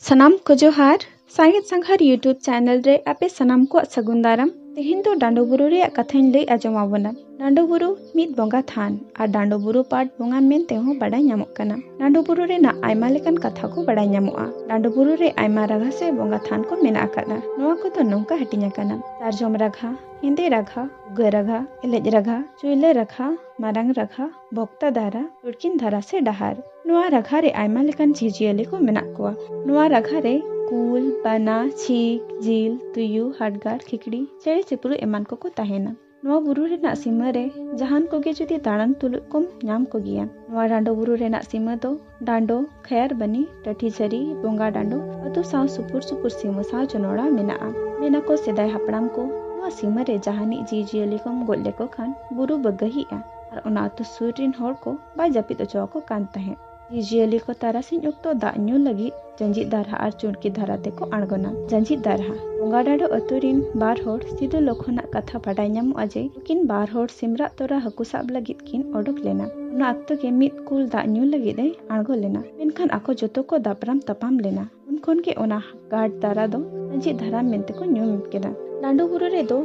ᱥᱟᱱᱟᱢ ᱠᱚ ᱡᱚᱦᱟᱨ ᱥᱟᱸᱜᱮᱫ ᱥᱟᱸᱜᱷᱟᱨ ᱤᱭᱩᱴᱩᱵᱽ ᱪᱮᱱᱮᱞ ᱨᱮ ᱟᱯᱮ ᱥᱟᱱᱟᱢ ᱠᱚᱣᱟᱜ ᱥᱟᱹᱜᱩᱱ ᱫᱟᱨᱟᱢ ᱛᱮᱦᱮᱧ ᱫᱚ ᱰᱟᱸᱰᱚ ᱵᱩᱨᱩ ᱨᱮᱭᱟᱜ ᱠᱟᱛᱷᱟᱧ ᱞᱟᱹᱭ ᱟᱸᱡᱚᱢ ᱟᱵᱚᱱᱟ ᱰᱟᱸᱰᱚ ᱵᱩᱨᱩ ᱢᱤᱫ ᱵᱚᱸᱜᱟ ᱛᱷᱟᱱ ᱟᱨ ᱰᱟᱸᱰᱚ ᱵᱩᱨᱩ ᱯᱟᱴ ᱵᱚᱸᱜᱟ ᱢᱮᱱᱛᱮ ᱦᱚᱸ ᱵᱟᱰᱟᱭ ᱧᱟᱢᱚᱜ ᱠᱟᱱᱟ ᱰᱟᱸᱰᱚ ᱵᱩᱨᱩ ᱨᱮᱱᱟᱜ ᱟᱭᱢᱟ ᱞᱮᱠᱟᱱ ᱠᱟᱛᱷᱟ ᱠᱚ ᱵᱟᱰᱟᱭ ᱧᱟᱢᱚᱜᱼᱟ ᱰᱟᱸᱰᱚ ᱵᱩᱨᱩ ᱨᱮ ᱟᱭᱢᱟ ᱨᱟᱜᱷᱟ ᱥᱮ ᱵᱚᱸᱜᱟ ᱛᱷᱟᱱ ᱠᱚ ᱢᱮᱱᱟᱜ ᱟᱠᱟᱫᱟ ᱱᱚᱣᱟ ᱠᱚᱫᱚ ᱱᱚᱝᱠᱟ ᱦᱟᱹᱴᱤᱧ ᱟᱠᱟᱱᱟ ᱥᱟᱨᱡᱚᱢ ᱨᱟᱜᱷᱟ ᱦᱮᱸᱫᱮ ᱨᱟᱜᱷᱟ ᱩᱜᱟᱹ ᱨᱟᱜᱷᱟ ᱮᱞᱮᱡ ᱨᱟᱜᱷᱟ ᱪᱩᱭᱞᱟᱹ ᱨᱟᱜᱷᱟ ᱢᱟᱨᱟᱝ ᱨᱟᱜᱷᱟ ᱵᱚᱠᱛᱟ ᱫᱟᱨᱟ ᱩᱲᱠᱤᱱ ᱫᱷᱟᱨᱟ ᱥᱮ ᱰᱟᱦᱟᱨ ᱱᱚᱣᱟ ᱨᱟᱜᱷᱟ ᱨᱮ ᱟᱭᱢᱟ ᱞᱮᱠᱟᱱ ᱡᱤᱵᱽᱡᱤᱭᱟᱹᱞᱤ ᱠᱚ ᱢᱮᱱᱟᱜ ᱠᱚᱣᱟ ᱱᱚᱣᱟ ᱨᱟᱜᱷᱟ ᱨᱮ ᱠᱩᱞ ᱵᱟᱱᱟ ᱪᱷᱤᱠ ᱡᱤᱞ ᱛᱩᱭᱩ ᱦᱟᱰᱜᱟᱨ ᱠᱷᱤᱠᱲᱤ ᱪᱮᱬᱮ ᱪᱤᱯᱨᱩ ᱮᱢᱟᱱ ᱠᱚᱠᱚ ᱛᱟᱦᱮᱱᱟ ᱱᱚᱣᱟ ᱵᱩᱨᱩ ᱨᱮᱱᱟᱜ ᱥᱤᱢᱟᱹ ᱨᱮ ᱡᱟᱦᱟᱱ ᱠᱚᱜᱮ ᱡᱩᱫᱤ ᱫᱟᱬᱟᱱ ᱛᱩᱞᱩᱡ ᱠᱚᱢ ᱧᱟᱢ ᱠᱚᱜᱮᱭᱟ ᱱᱚᱣᱟ ᱰᱟᱸᱰᱚ ᱵᱩᱨᱩ ᱨᱮᱱᱟᱜ ᱥᱤᱢᱟᱹ ᱫᱚ ᱰᱟᱸᱰᱚ ᱠᱷᱟᱭᱟᱨ ᱵᱟᱹᱱᱤ ᱴᱟᱹᱴᱷᱤ ᱡᱷᱟᱹᱨᱤ ᱵᱚᱸᱜᱟ ᱰᱟᱸᱰᱚ ᱟᱹᱛᱩ ᱥᱟᱶ ᱥᱩᱯᱩᱨ ᱥᱩᱯᱩᱨ ᱥᱤᱢᱟᱹ ᱥᱟᱶ ᱡᱚᱱᱚᱲᱟ ᱢᱮᱱᱟᱜᱼᱟ ᱢᱮᱱᱟ ᱠᱚ ᱥᱮᱫᱟᱭ ᱦᱟᱯᱲᱟᱢ ᱠᱚ ᱱᱚᱣᱟ ᱥᱤᱢᱟᱹ ᱨᱮ ᱡᱟᱦᱟᱱᱤᱡ ᱡᱤᱣᱤᱡᱤᱭᱟᱹᱞᱤ ᱠᱚᱢ ᱜᱚᱡ ᱞᱮᱠᱚ ᱠᱷᱟᱱ ᱵᱩᱨᱩ ᱵᱟᱹᱜᱟᱹᱦᱤᱜᱼᱟ ᱟᱨ ᱚᱱᱟ ᱟᱹᱛᱩ ᱥᱩᱨ ᱨᱤᱱ ᱦᱚᱲ ᱠᱚ ᱵᱟᱭ ᱡᱟᱹᱯᱤᱫ ᱚᱪᱚᱣᱟᱠᱚ ᱠᱟᱱ ᱛᱟᱦᱮᱸᱫ ᱡᱤᱭᱟᱹᱞᱤ ᱠᱚ ᱛᱟᱨᱟᱥᱤᱧ ᱚᱠᱛᱚ ᱫᱟᱜ ᱧᱩ ᱞᱟᱹᱜᱤᱫ ᱡᱟᱸᱡᱤᱫ ᱫᱟᱨᱦᱟ ᱟᱨ ᱪᱩᱲᱠᱤ ᱫᱷᱟᱨᱟ ᱛᱮᱠᱚ ᱟᱬᱜᱚᱱᱟ᱾ ᱡᱟᱸᱡᱤᱫ ᱫᱟᱨᱦᱟ᱾ ᱵᱚᱸᱜᱟᱰᱟᱰᱚ ᱟᱹᱛᱩ ᱨᱤᱱ ᱵᱟᱨ ᱦᱚᱲ ᱥᱤᱫᱚ ᱞᱚᱠᱷᱚᱱ ᱟᱜ ᱠᱟᱛᱷᱟ ᱵᱟᱰᱟᱭ ᱧᱟᱢᱚᱜᱼᱟ ᱡᱮ ᱱᱩᱠᱤᱱ ᱵᱟᱨ ᱦᱚᱲ ᱥᱤᱢᱨᱟᱜ ᱛᱚᱨᱟ ᱦᱟᱹᱠᱩ ᱥᱟᱵ ᱞᱟᱹᱜᱤᱫ ᱠᱤᱱ ᱚᱰᱚᱠ ᱞᱮᱱᱟ᱾ ᱚᱱᱟ ᱚᱠᱛᱚ ᱜᱮ ᱢᱤᱫ ᱠᱩᱞ ᱫᱟᱜ ᱧᱩ ᱞᱟᱹᱜᱤᱫ ᱮ ᱟᱬᱜᱚ ᱞᱮᱱᱟ᱾ ᱢᱮᱱᱠᱷᱟᱱ ᱟᱠᱚ ᱡᱚᱛᱚ ᱠᱚ ᱫᱟᱯᱨᱟᱢ ᱛᱟᱯᱟᱢ ᱞᱮᱱᱟ᱾ ᱩᱱ ᱠᱷᱚᱱ ᱜᱮ ᱚᱱᱟ ᱜᱟᱰ ᱫᱟᱨᱟ ᱫᱚ ᱟᱸᱡᱮᱫ ᱫᱷᱟᱨᱟ ᱢᱮᱱᱛᱮ ᱠᱚ ᱧᱩᱢ ᱠᱮᱫᱟ ᱞᱟᱸᱰᱩ ᱵᱩᱨᱩ ᱨᱮᱫᱚ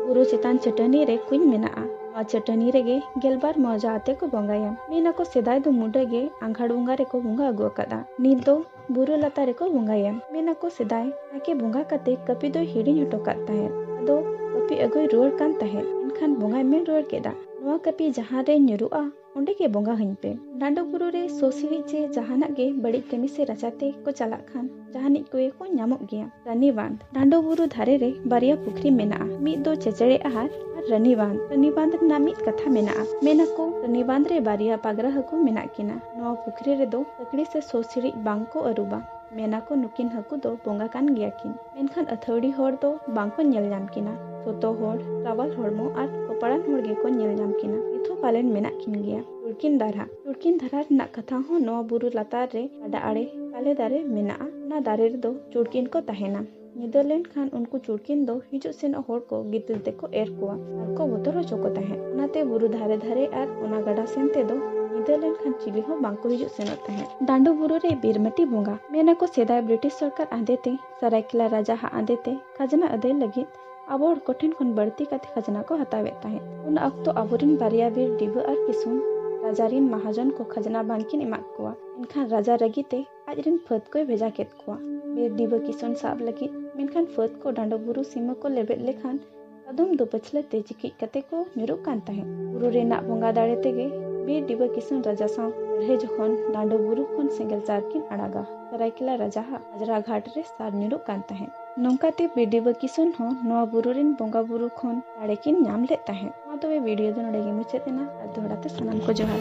ᱵᱩᱨᱩ ᱪᱮᱛᱟᱱ ᱪᱟᱹᱴᱟᱹᱱᱤ ᱨᱮ ᱠᱩᱧ ᱢᱮᱱᱟᱜᱼᱟ ᱱᱚᱣᱟ ᱪᱟᱹᱴᱟᱹᱱᱤ ᱨᱮᱜᱮ ᱜᱮᱞᱵᱟᱨ ᱢᱚᱣᱡᱟ ᱟᱛᱮ ᱠᱚ ᱵᱚᱸᱜᱟᱭᱟ ᱢᱮᱱᱟᱠᱚ ᱥᱮᱫᱟᱭ ᱫᱚ ᱢᱩᱰᱟᱹ ᱜᱮ ᱟᱸᱜᱷᱟᱲ ᱵᱚᱸᱜᱟ ᱨᱮᱠᱚ ᱵᱚᱸᱜᱟ ᱟᱹᱜᱩ ᱟᱠᱟᱫᱟ ᱱᱤᱛ ᱫᱚ ᱵᱩᱨᱩ ᱞᱟᱛᱟᱨ ᱨᱮᱠᱚ ᱵᱚᱸᱜᱟᱭᱟ ᱢᱮᱱᱟᱠᱚ ᱥᱮᱫᱟᱭ ᱱᱟᱭᱠᱮ ᱵᱚᱸᱜᱟ ᱠᱟᱛᱮ ᱠᱟᱹᱯᱤ ᱫᱚᱭ ᱦᱤᱲᱤᱧ ᱦᱚᱴᱚ ᱠᱟᱫ ᱛᱟᱦᱮᱸᱫ ᱟᱫᱚ ᱠᱟᱹᱯᱤ ᱟᱹᱜᱩᱭ ᱨᱩᱣᱟᱹᱲ ᱠᱟᱱ ᱛᱟᱦᱮᱸᱫ ᱮᱱᱠᱷᱟᱱ ᱵᱚᱸᱜᱟᱭ ᱢᱮᱱ ᱨᱩᱣᱟᱹᱲ ᱠᱮᱫᱟ ᱱᱚᱣᱟ ᱠᱟᱹᱯᱤ ᱡᱟᱦᱟᱸ ᱨᱮ ᱧᱩᱨᱩᱜᱼᱟ ᱚᱸᱰᱮ ᱜᱮ ᱵᱚᱸᱜᱟ ᱦᱟᱹᱧ ᱯᱮ ᱰᱟᱸᱰᱚ ᱵᱩᱨᱩ ᱨᱮ ᱥᱚᱥᱤᱲᱤ ᱪᱮ ᱡᱟᱦᱟᱱᱟᱜ ᱜᱮ ᱵᱟᱹᱲᱤᱡ ᱠᱟᱹᱢᱤ ᱥᱮ ᱨᱟᱪᱟ ᱛᱮ ᱠᱚ ᱪᱟᱞᱟᱜ ᱠᱷᱟᱱ ᱡᱟᱦᱟᱱᱤᱡ ᱠᱚᱜᱮ ᱠᱚ ᱧᱟᱢᱚᱜ ᱜᱮᱭᱟ ᱨᱟᱹᱱᱤ ᱵᱟᱸᱫᱷ ᱰᱟᱸᱰᱚ ᱵᱩᱨᱩ ᱫᱷᱟᱨᱮ ᱨᱮ ᱵᱟᱨᱭᱟ ᱯᱩᱠᱷᱨᱤ ᱢᱮᱱᱟᱜᱼᱟ ᱢᱤᱫ ᱫᱚ ᱪᱮᱪᱮᱲᱮ ᱟᱦᱟᱨ ᱟᱨ ᱨᱟᱹᱱᱤ ᱵᱟᱸᱫᱷ ᱨᱟᱹᱱᱤ ᱵᱟᱸᱫᱷ ᱨᱮᱱᱟᱜ ᱢᱤᱫ ᱠᱟᱛᱷᱟ ᱢᱮᱱᱟᱜᱼᱟ ᱢᱮᱱᱟ ᱠᱚ ᱨᱟᱹᱱᱤ ᱵᱟᱸᱫᱷ ᱨᱮ ᱵᱟᱨᱭᱟ ᱯᱟᱜᱽᱨᱟ ᱦᱟᱹᱠᱩ ᱢᱮᱱᱟᱜ ᱠᱤᱱᱟ ᱱᱚᱣᱟ ᱯᱩᱠᱷᱨᱤ ᱨᱮᱫᱚ ᱠᱟᱹᱠᱲᱤ ᱥᱮ ᱥᱚᱥᱤᱲᱤᱡ ᱵᱟᱝ ᱠᱚ ᱟᱹᱨᱩᱵᱟ ᱢᱮᱱᱟ ᱠᱚ ᱱᱩᱠᱤᱱ ᱦᱟᱹᱠᱩ ᱫᱚ ᱵᱚᱸᱜᱟ ᱠᱟᱱ ᱜᱮᱭᱟ ᱠᱤᱱ ᱢᱮᱱᱠᱷᱟᱱ ᱟᱹᱛᱷᱟᱹᱣᱲᱤ ᱦᱚᱲ ᱫᱚ ᱵᱟᱝ ᱠᱚ ᱧᱮᱞ ᱧᱟᱢ ᱠᱤᱱᱟ᱾ ᱥᱚᱛᱚ ᱦᱚᱲ, ᱨᱟᱣᱟᱞ ᱦᱚᱲᱢᱚ ᱟᱨ ᱠᱚᱯᱟᱲᱟᱱ ᱦᱚᱲ ᱜᱮ ᱠᱚ ᱧᱮᱞ ᱧᱟᱢ ᱠᱤᱱᱟ᱾ ᱱᱤᱛ ᱦᱚᱸ ᱯᱟᱞᱮᱱ ᱢᱮᱱᱟᱜ ᱠᱤᱱ ᱜᱮᱭᱟ᱾ ᱴᱩᱲᱠᱤᱱ ᱫᱟᱨᱦᱟ᱾ ᱴᱩᱲᱠᱤᱱ ᱫᱟᱨᱦᱟ ᱨᱮᱱᱟᱜ ᱠᱟᱛᱷᱟ ᱦᱚᱸ ᱱᱚᱣᱟ ᱵᱩᱨᱩ ᱞᱟᱛᱟᱨ ᱨᱮ ᱜᱟᱰᱟ ᱟᱲᱮ ᱛᱟᱞᱮ ᱫᱟᱨᱮ ᱢᱮᱱᱟᱜᱼᱟ᱾ ᱚᱱᱟ ᱫᱟᱨᱮ ᱨᱮᱫᱚ ᱪᱩᱲᱠᱤᱱ ᱠᱚ ᱛᱟᱦᱮᱸᱱᱟ᱾ ᱧᱤᱫᱟᱹ ᱞᱮᱱ ᱠᱷᱟᱱ ᱩᱱᱠᱩ ᱪᱩᱲᱠᱤᱱ ᱫᱚ ᱦᱤᱡᱩᱜ ᱥᱮᱱᱚᱜ ᱦᱚᱲ ᱠᱚ ᱜᱤᱛᱤᱞ ᱛᱮᱠᱚ ᱮᱨ ᱠᱚᱣᱟ᱾ ᱟᱨ ᱠᱚ ᱵᱚᱛᱚᱨ ᱦᱚᱪᱚ ᱠᱚ ᱛᱟᱦᱮᱸᱫ ᱚᱱᱟᱛᱮ ᱵᱩᱨᱩ ᱫᱷᱟᱨᱮ ᱫᱷᱟᱨᱮ ᱟᱨ ᱚᱱᱟ ᱜᱟᱰᱟ ᱥᱮᱱ ᱛᱮᱫᱚ ᱧᱤᱫᱟᱹ ᱞᱮᱱᱠᱷᱟᱱ ᱪᱤᱞᱤ ᱦᱚᱸ ᱵᱟᱝ ᱠᱚ ᱦᱤᱡᱩᱜ ᱥᱮᱱᱚᱜ ᱛᱟᱦᱮᱸᱫ᱾ ᱰᱟᱸᱰᱚ ᱵᱩᱨᱩ ᱨᱮ ᱵᱤᱨᱢᱟᱹᱴᱤ ᱵᱚᱸᱜᱟ᱾ ᱢᱮᱱ ᱟᱠᱚ ᱥᱮᱫᱟᱭ ᱵᱨᱤᱴᱤᱥ ᱥᱚᱨᱠᱟᱨ ᱟᱸᱫᱮ ᱛᱮ ᱥᱟᱨᱟᱭᱠᱮᱞᱟ ᱨᱟᱡᱟ ᱦᱟᱜ ᱟᱸᱫᱮ ᱛᱮ ᱠᱷᱟᱡᱽᱱᱟ ᱟᱹᱫᱟᱹᱭ ᱞᱟᱹᱜᱤᱫ ᱟᱵᱚ ᱦᱚᱲ ᱠᱚ ᱴᱷᱮᱱ ᱠᱷᱚᱱ ᱵᱟᱹᱲᱛᱤ ᱠᱟᱛᱮ ᱠᱷᱟᱡᱽᱱᱟ ᱠᱚ ᱦᱟᱛᱟᱣᱮᱫ ᱛᱟᱦᱮᱸᱫ᱾ ᱩᱱ ᱚᱠᱛᱚ ᱟᱵᱚ ᱨᱤᱱ ᱵᱟᱨᱭᱟ ᱵᱤᱨ ᱰᱤᱵᱟᱹ ᱟᱨ ᱠᱤᱥᱩᱱ ᱨᱟᱡᱟ ᱨᱤᱱ ᱢᱟᱦᱟᱡᱚᱱ ᱠᱚ ᱠᱷᱟᱡᱽᱱᱟ ᱵᱟᱝ ᱠᱤᱱ ᱮᱢᱟᱫ ᱠᱚᱣᱟ᱾ ᱮᱱᱠᱷᱟᱱ ᱨᱟᱡᱟ ᱨᱟᱹᱜᱤ ᱛᱮ ᱟᱡ ᱨᱤᱱ ᱯᱷᱟᱹᱫᱽ ᱠᱚᱭ ᱵᱷᱮᱡᱟ ᱠᱮᱫ ᱠᱚᱣᱟ ᱵᱤᱨ ᱰᱤᱵᱟᱹ ᱠᱤᱥᱩᱱ ᱥᱟᱵ ᱞᱟᱹᱜᱤᱫ᱾ ᱢᱮᱱᱠᱷᱟᱱ ᱯᱷᱟᱹᱫᱽ ᱠᱚ ᱰᱟᱸᱰᱚ ᱵᱩᱨᱩ ᱥᱤᱢᱟᱹ ᱠᱚ ᱞᱮᱵᱮᱫ ᱞᱮᱠᱷᱟᱱ ᱠᱟᱫᱚᱢ ᱫᱚ ᱯᱟᱹᱪᱷᱞᱟᱹ ᱛᱮ ᱪᱤᱠᱤᱡ ᱠᱟᱛᱮ ᱠᱚ ᱧᱩᱨᱩᱜ ᱠᱟᱱ ᱛᱟᱦᱮᱸᱫ ᱵᱩᱨᱩ ᱨᱮᱱᱟᱜ ᱵᱚᱸᱜᱟ ᱫᱟᱲᱮ ᱛᱮᱜᱮ ᱵᱤᱨ ᱰᱤᱵᱟᱹ ᱠᱤᱥᱩᱱ ᱨᱟᱡᱟ ᱥᱟᱶ ᱞᱟᱹᱲᱦᱟᱹᱭ ᱡᱚᱠᱷᱚᱱ ᱰᱟᱸᱰᱚ ᱵᱩᱨᱩ ᱠᱷᱚᱱ ᱥᱮᱸᱜᱮᱞ ᱪᱟᱨ ᱠᱤᱱ ᱟᱲᱟᱜᱟ ᱥᱟᱨᱟᱭᱠᱮᱞᱟ ᱨᱟᱡᱟ ᱦᱟᱜ ᱟᱡᱽᱨᱟ ᱜᱷᱟᱴ ᱨᱮ ᱥᱟᱨ ᱧᱩᱨᱩᱜ ᱠᱟᱱ ᱛᱟᱦᱮᱸᱫ ᱱᱚᱝᱠᱟ ᱛᱮ ᱵᱤᱨ ᱰᱤᱵᱟᱹ ᱠᱤᱥᱩᱱ ᱦᱚᱸ ᱱᱚᱣᱟ ᱵᱩᱨᱩ ᱨᱮᱱ ᱵᱚᱸᱜᱟ ᱵᱩᱨᱩ ᱠᱷᱚᱱ ᱫᱟᱲᱮ ᱠᱤᱱ ᱧᱟᱢ ᱞᱮᱫ ᱛᱟᱦᱮᱸᱫ ᱢᱟ ᱛᱚᱵᱮ ᱵᱷᱤᱰᱤᱭᱳ ᱫᱚ ᱱᱚᱰᱮ ᱜᱮ ᱢᱩᱪᱟᱹᱫ ᱮᱱᱟ ᱟᱨ ᱫᱚᱦᱲᱟ ᱛᱮ ᱥᱟᱱᱟᱢ ᱠᱚ ᱡᱚᱦᱟᱨ